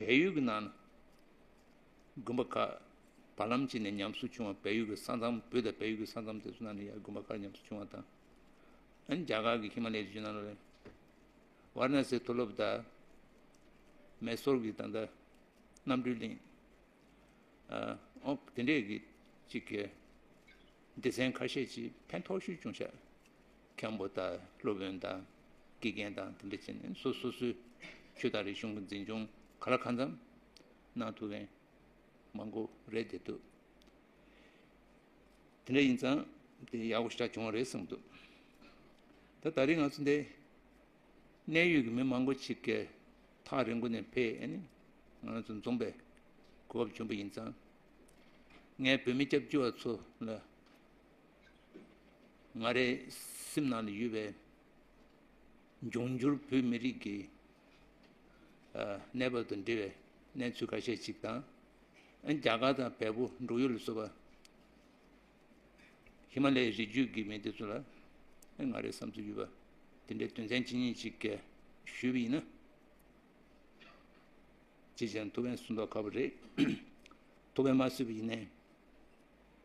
བལ་ཡུལ་གྱི་ནང་ན་དགོན་པ་ཁག་བར་ལམ་གཅིག་ནས་ཉམས་གསོ་བྱུང་བ་བལ་ཡུལ་གྱི་ས་མཚམས་བོད་དང་བལ་ཡུལ་གྱི་ས་མཚམས་དེ་ཚོ་ནང་ན་ཡང་དགོན་པ་ཁག་ཉམས་གསོ་བྱུང་བ་དང། ཡང་རྒྱ་གར་གྱི་ཧི་མ་ལའི་རི་ཆུ་ནང་ན་ལ་ཝར་ན་སེའི་མཐོ་སློབ་དང། མེ་སོར་གྱི་ད་ལྟ་རྣམ་གྲོལ་གླིང། འོག་དེ་འདྲས་ཀྱི་གཅིག་གི་སྡེ་ཚན་ཁ་ཤས་ཀྱིས་ཕན་ཐོགས་ཤུལ་ཅུང་ཤ། མཁན་པོ་དང་སློབ་དཔོན་དང་དགེ་རྒན་དང་དེ་འདྲ་བྱས་ནས་སོ་སོ་སོའི་ཆོས་དང་རིག་གཞུང་གི་འཛིན་སྐྱོང་ག་ལ་གང་འཚམ་གནང་ཐུབ་མཁན་མང་པོ་རེད་བསྡད་འདུག་དེ་འདྲ་ཡིན་ཙང་དེ་ཡག་པོ་ཞིག་ཆགས་བྱུང་བ་རེད་གསུངས་འདུག་ད་ད་རིང་ང་ཚོ་འདི་གནས་ཡུལ་གྱི་མི་མང་པོ་ཞིག་གིས་ཐག་རིང་པོ་ནས་ཕེ་ཨེ་ནི་ང་ཚོ་འཛོམས་པའི་གོ་བབ་བྱུང་པ་ཡིན་ཙང་ངས་བོད་མི་སྐྱབས་བཅོལ་བ་ཚོ་ལ་ང་རའི་སེམས་ནང་དུ་ཡོད་པའི་འབྱུང་འགྱུར་བོད་མི་རིགས་ཀྱི་གནས་བབ་དང་འབྲེལ་བའི་གནས་ཚུལ་ཁ་ཤས་ཅིག་དང། རྒྱ་གར་དང་བལ་པོ་འབྲུག་ཡུལ་ལ་སོགས་པ་ཧི་མ་ལའི་རི་རྒྱུད་ཀྱི་མི་དེ་ཚོ་ལ་ང་རའི་བསམ་ཚུལ་ཡོད་པ་དེ་འདྲའི་དོན་ཚན་ཇི་སྙེད་ཅིག་ཞུས་པ་ཡིན་ན། ཅིས་ཀྱང་ཐུགས་ཕན་སུ་འདོགས་ཁག་པོ་རེད། ཐུགས་ཕན་མ་སུས་པ་ཡིན་ནའི།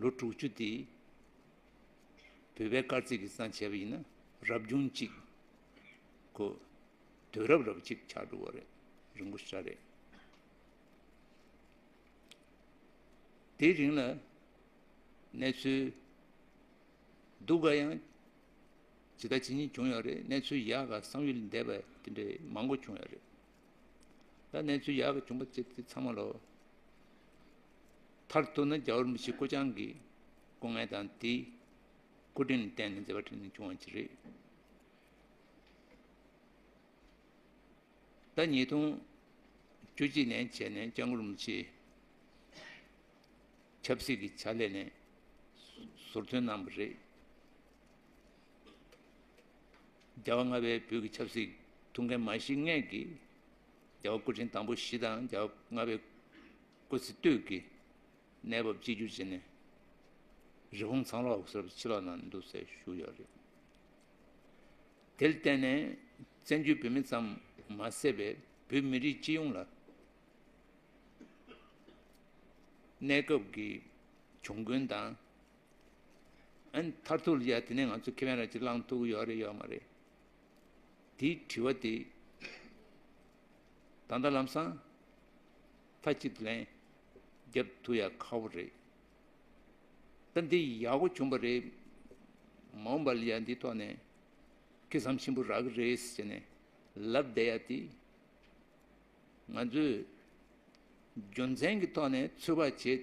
ལོ་དྲུག་ཅུ་དེ་བོད་པའི་སྐར་རྩིས་ཀྱི་གསང་བྱས་པ་ཡིན་ན་རབ་བྱུང་གཅིག་གོ། དུས་རབས་རབ་གཅིག་ཆགས་འགྲོ་བ་རེད་རིན་པོ་ཧྲ་རེད། དེའི་རིང་ལ་གནས་ཚུལ་སྡུག་ག་ཡང་ཇི་ལྟ་ཇི་སྙེད་བྱུང་ཡོད་རེད་གནས་ཚུལ་ཡག་ག་བསམ་ཡུལ་འདས་པ་དེ་འདྲ་མང་པོ་བྱུང་ཡོད་རེད། ད་གནས་ཚུལ་ཡག་གི་བྱུང་པ་བཅས་དེ་ཚང་མ་ལོ། མཐར་གཏུགས་ན་རྒྱ་བོར་མི་ཤི་ཀོ་ཅང་གི་སྐུ་ངལ་དང་དེའི་སྐུ་དྲིན་ལ་བརྟེན་ནས་མཛད་པ་ཁྲིད་ནས་བྱུང་བ་ཅི་རེད། ཟླ་ཉིས་སྟོང་བཅུ་གཅིག་ནས་བྱས་ནས་ལྕང་སྐུར་མི་ཤིའི་ཆབ་སྲིད་ཀྱི་ཕྱག་ལས་ནས་ཟུར་ཐོན་གནང་བ་རེད། རྒྱལ་བ་ལྔ་པའི་བོད་ཀྱི་ཆབ་སྲིད་ཐུགས་འགན་མ་བཞི་ལྔས་ཀྱི་རྒྱལ་བ་སྐུ་ཕྲེང་དང་པོ་བཞི་དང་རྒྱལ་བ་ལྔ་པའི་སྐུ་ཚེ་སྟོད་ཀྱི་གནས་བབ་གཅིག་གྱུར་བྱས་ནས་རི་བོང་ཚང་ལོགས་སུ་ཕྱི་ལོགས་ན་འདུག་སའི་བཞུགས་ཡོད་རེད། དེར་བརྟེན་ནས་བཙན་བྱོལ་བོད་མི་ཙམ་མ་ཟད་པའི་བོད་མི་རིགས་སྤྱི་ཡོངས་ལ་གནས་སྐབས་ཀྱི་གྱོང་གུན་དང། མཐར་ཐུག་ལ་ཡ་དེ་ནས་ང་ཚོ་ཁེ་ཕན་ར་གཅིག་བླང་ཐུབ་ཀྱི་ཡོད་རེད་ཡོད་མ་རེད། དེའི་དྲི་བ་དེ་ད་ལྟ་ལམ་སང་མཐའ་གཅིག་ཏུ་ལན་རྒྱབ་ཐུབ་ཡ་ཁག་པོ་རེད། ད་འདི་ཡག་པོ་བྱུང་པ་རེད་མ་འོངས་པ་ལ་ཡ་འདིའི་ཐོག་ནས་ཁེ་བཟང་ཆེན་པོ་རག་གི་རེད་ཟེར་ནས་ལབ་བསྡད་ཡ་དེ་ང་ཚོས་རྒྱུ་མཚན་གྱི་ཐོག་ནས་ཚོད་དཔག་བྱེད་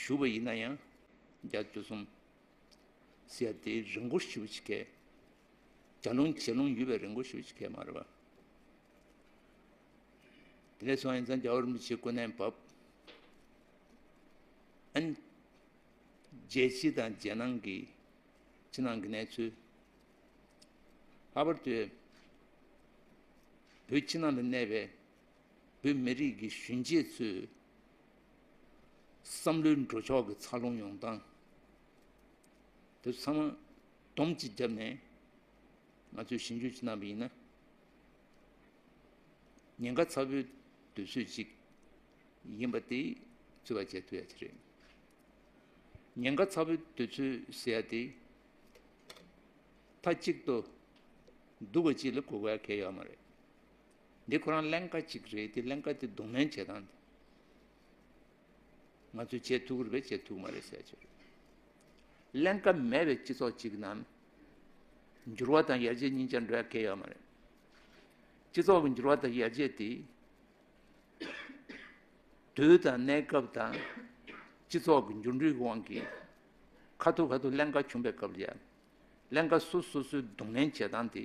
ཞུ་བ་ཡིན་ན་ཡང་རྒྱ་མཚོ་གསུམ། ཟེར་ཡ་དེའི་རི་མགོ་ཞུ་བ་ཞིག་གས། རྒྱ་རླུང་བྱེ་རླུང་ཡུལ་བའི་རི་མགོ་ཞུ་བ་ཞིག་གས་མ་རེད་པ། དེ་ལས་སོང་ཡིན་ཙང་རྒྱ་བོད་རིན་པོ་ཆེའི་སྐུ་ནས་བབས། ཨན། རྒྱལ་སྤྱི་དང་རྒྱལ་ནང་གི་ཕྱི་ནང་གི་གནས་ཚུལ། ལྷག་པར་དུ་བོད་ཕྱི་ནང་དུ་གནས་པའི། བོད་མི་རིགས་ཀྱི་གཞོན་སྐྱེས་ཚོའི་བསམ་བློའི་འགྲོ་ཕྱོགས་ཀྱི་འཚར་ལོངས་ཡོང་སྟངས་དེ་ཚང་མ་སྡོམ་གཅིག་བརྒྱབ་ནས་ང་ཚོས་ཞིབ་འཇུག་བྱེད་གནང་བ་ཡིན་ན། ཉེན་ཁ་ཚ་བོའི་དུས་ཚོད་ཅིག་ཡིན་པ་དེ་རྩོད་པ་བྱེད་ཐུབ་ཡ་དེ་རེད། ཉེན་ཁ་ཚ་བོའི་དུས་ཚོད་ཟེར་ཡ་དེ་མཐའ་གཅིག་ཏུ་འདུག་པ་གཅིག་ལ་གོ་བ་གལ་ཡོད་མ་རེད། འདི་ཁོ་རང་ཀླན་ཀ་ཅིག་རེད་དེ་ཀླན་ཀ་དེ་གདོང་ལེན་བྱེད་སྟངས་དེ། ང་ཚོས་བྱེད་ཐུག་རེད་པས་བྱེད་ཐུག་མ་རེད་ཟེར་ཆོག། ཀླན་ཀ་མེད་པའི་སྤྱི་ཚོགས་ཅིག་ནང། འགྱུར་བ་དང་ཡར་རྒྱས་གཉིས་ཆ་འདྲ་གལ་ཡོད་མ་རེད། སྤྱི་ཚོགས་ཀྱི་འགྱུར་བ་དང་ཡར་རྒྱས་དེ། དུས་དང་གནས་སྐབས་དང། སྤྱི་ཚོགས་ཀྱི་འགྱུར་འགྲོས་ཀྱི་དབང་གིས། ཁ་ཐུག་ཁ་ཐུག་ཀླན་ཀ་བྱུང་པའི་སྐབས་ལ། ཀླན་ཀ་སོ་སོ་སོའི་གདོང་ལེན་བྱེད་སྟངས་དེ།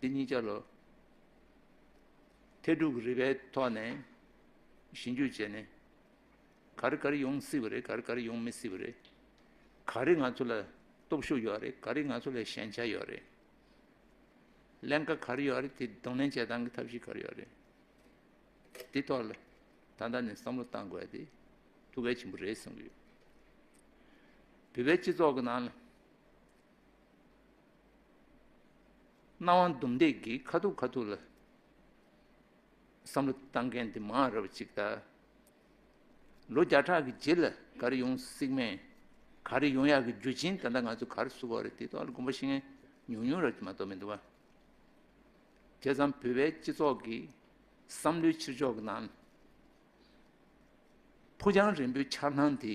འདི་གཉིས་ཆ་ལོ་ཐེར་དྲུག་གི་རིག་པའི་ཐོག་ནས་གཞི་འགྱུར་བྱས་ནས་ག་རེ་ག་རེ་ཡོང་སྲིད་པ་རེད་ག་རེ་ག་རེ་ཡོང་མི་སྲིད་པ་རེད། ག་རེ་ང་ཚོ་ལ་སྟོབས་ཤུགས་ཡོད་རེད་ག་རེ་ང་ཚོ་ལ་ཞན་ཆ་ཡོད་རེད། ཀླན་ཀ་ག་རེ་ཡོད་རེད་དེ་གདོང་ལེན་བྱེད་སྟངས་ཀྱི་ཐབས་ཤེས་ག་རེ་ཡོད་རེད། དེ་ཐོག་ལ་ད་ལྟ་ནས་བསམ་བློ་བཏང་དགོས་དེ་ཐུགས་གལ་ཆེན་པོ་རེད་གསུངས་ཀྱི་ཡོད། བོད་པའི་སྤྱི་ཚོགས་ཀྱི་ནང་ལ། སྣང་བ་འདུམ་འདེགས་ཀྱིས་ཁ་ཐུག་ཁ་ཐུག་ལ་བསམ་བློ་བཏང་མཁན་དེ་མང་རབས་ཅིག་དང། ལོ་བརྒྱ་ཕྲག་གི་རྗེས་ལ་ག་རེ་ཡོང་སྲིད་མིན། ག་རེ་ཡོང་ཡག་གི་རྒྱུ་རྐྱེན་ད་ལྟ་ང་ཚོས་གར་བསུ་བ་རེད་དེ་ཐོག་ལ་དགོངས་པ་བཞེས་མཁན་ཉུང་ཉུང་རབས་ཀྱིས་མ་གཏོགས་མི་འདུག་བ། དེ་ཙམ་བོད་པའི་སྤྱི་ཚོགས་ཀྱི་བསམ་བློའི་ཕྱིར་ཕྱོགས་ཀྱི་ནང་ལ། ཕུ་རྒྱང་རིང་པོའི་འཆར་སྣང་དེ།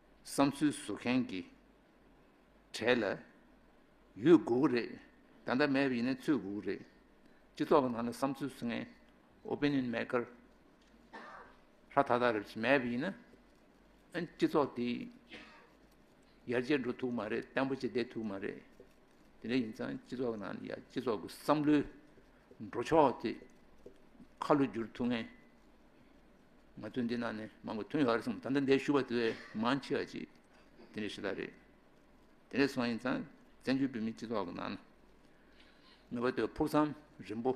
བསམ་ཚུལ་བཟོ་མཁན་གྱི་གྲས་ལ་ཡོད་དགོས་ཀྱི་རེད། ད་ལྟ་མེད་པ་ཡིན་ན་ཚུད་དགོས་ཀྱི་རེད། སྤྱི་ཚོགས་ཀྱི་ནང་ལ་བསམ་ཚུལ་བཟོ་མཁན། Opinion Maker། ཧྲ་ཐག་ཐག་རེད་བྱས་མེད་པ་ཡིན་ན། ཨན་སྤྱི་ཚོགས་དེ་ཡར་རྒྱས་འགྲོ་ཐུབ་མ་རེད་བརྟན་པོ་བྱས་བསྡད་ཐུབ་མ་རེད། དེ་འདྲ་ཡིན་ཙང་སྤྱི་ཚོགས་ཀྱི་ནང་ཡ་སྤྱི་ཚོགས་ཀྱི་བསམ་བློའི་འགྲོ་ཕྱོགས་དེ་ཁ་ལོ་བསྒྱུར་ཐུབ་མཁན། ང་ཚོའི་འདི་ན་ནི་མང་པོ་ཐོན་ཡོད་རེད་གསུངས་ད་ལྟ་འདས་ཞུ་བ་དེ་མང་ཆེ་བ་ཅིག་དེ་འདྲའི་ཞེ་ད་རེད། དེ་འདྲའི་སོང་ཡིན་ཙང་བཙན་བྱོལ་བོད་མིའི་སྤྱི་ཚོགས་ཀྱི་ནང་ན་ངེས་པར་དུ་ཕུགས་བསམ་རིང་པོ་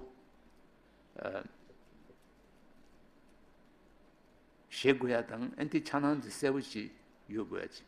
བཞེས་དགོས་ཡ་དང་ཨན་ཏི་ཆགས་སྣང་དེ་གསལ་པོ་ཞིག་ཡོད་དགོས་ཡ་ཅིག།